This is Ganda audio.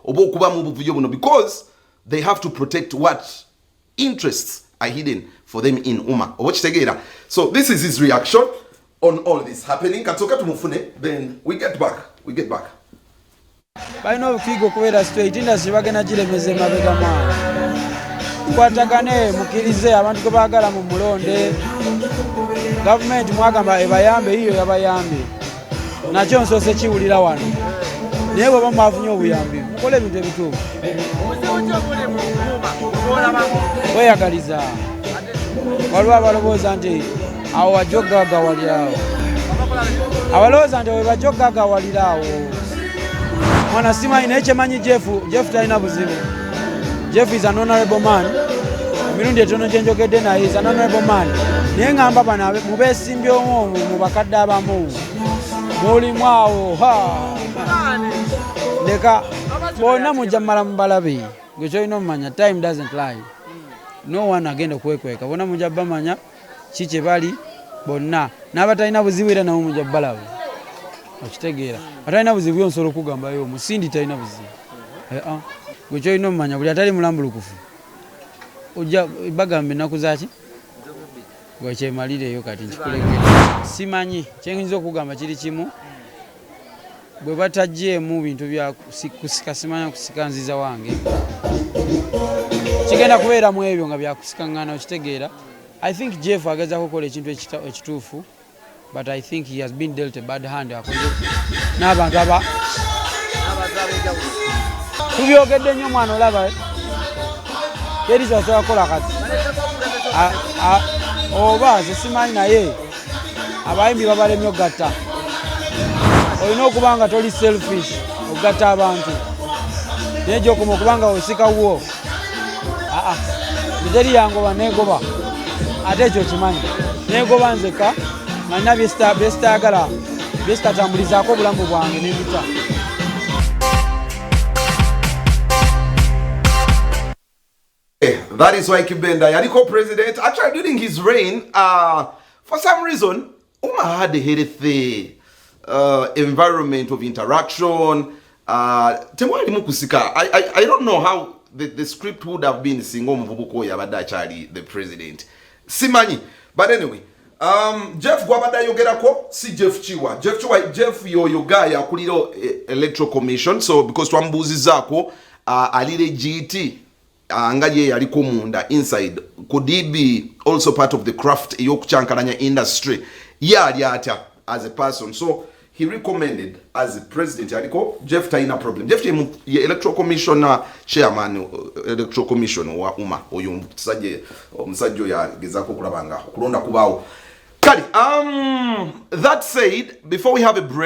oba okuba mu buvuyo buno because they have to protect what interests are hidden for them in uma oba okitegeera so this is his reaction on all this happening katsoka tumufune then we get back we get back balina obukiiga okubeera straight industry bagenda giremeza emabega mwana mukwatagane mukkirize abantu gwe baagala mu mulonde gavumenti mwagamba ebayambe yiyo yabayambye nakyo nsoose kiwulira wano naye bweba mwafunye obuyambi mukola ebintu ebituufu weyagaliza waliwo abalowooza nti awo wajja okugagawaliraawo abalowooza nti webajja okugagawaliraawo mwana simanyi naye kyemanyi jefu jefu talina buzibu jeff is an honorable man emirundi etono gye njogedde naye is an honorable man naye ngamba bano mubesimbyomu omu mu bakadde abamu mulimu awo leka bonna mujja mumala mubalabe gwe kyolina omumanya time doesn't lie no one agenda okwekweka bonna mujja bamanya ki kye bali bonna n'abatalina buzibu era nabo mujja balaba okitegeera atalina buzibu yo nsobola okugambayo omusindi talina buzibu eh, ah. gwe kyolina omumanya buli atali mulambulukufu ojja bagamba ennaku zaki gwekyemalireyo kati nkikulege simanyi kyenyinza okugamba kiri kimu bwe batagyemu bintu bya kusika simanya kusika nziza wange kigenda kubeera mu ebyo nga byakusikangana okitegeera i think jeff agezako okukola ekintu ekituufu but i think he has been dealt a bad hand akoze n'abantu aba tubyogedde nnyo omwana olaba teri kyasobola kukola kati oba ze simanyi naye abayimbi babalemye ogatta olina okuba nga toli selfish okugatta abantu naye gyokoma okuba nga osika wuwo aa eteri yangoba negoba ate ekyo kimanyi negoba nzeka nalina byesitayagala byesitatambulizaako obulamu bwange nebita Eh, that is why Kibenda yaliko president actually during his reign uh, for some reason Uma had a healthy uh, environment of interaction uh, temwalimu kusika I, I, I don't know how the, the script would have been singa omuvubuka oyo abadde akyali the president simanyi but anyway Um, Jeff gwabadde ayogerako si Jeff Kiwa. Jeff Kiwa, Jeff yoyo guy akulira eh, Electoral Commission so because twamubuuzizaako uh, alire GT uh, nga ye yaliko munda inside could he be also part of the craft ey'okukyankalanya industry ye ali atya as a person so He recommended as president aliko Jeff Taina problem. Jeff Taina ye electoral commissioner chairman uh, electoral commission wa Uma oyo msaje msajo ya gezako kulabanga kulonda kubao. Kali, um, that said, before we have a break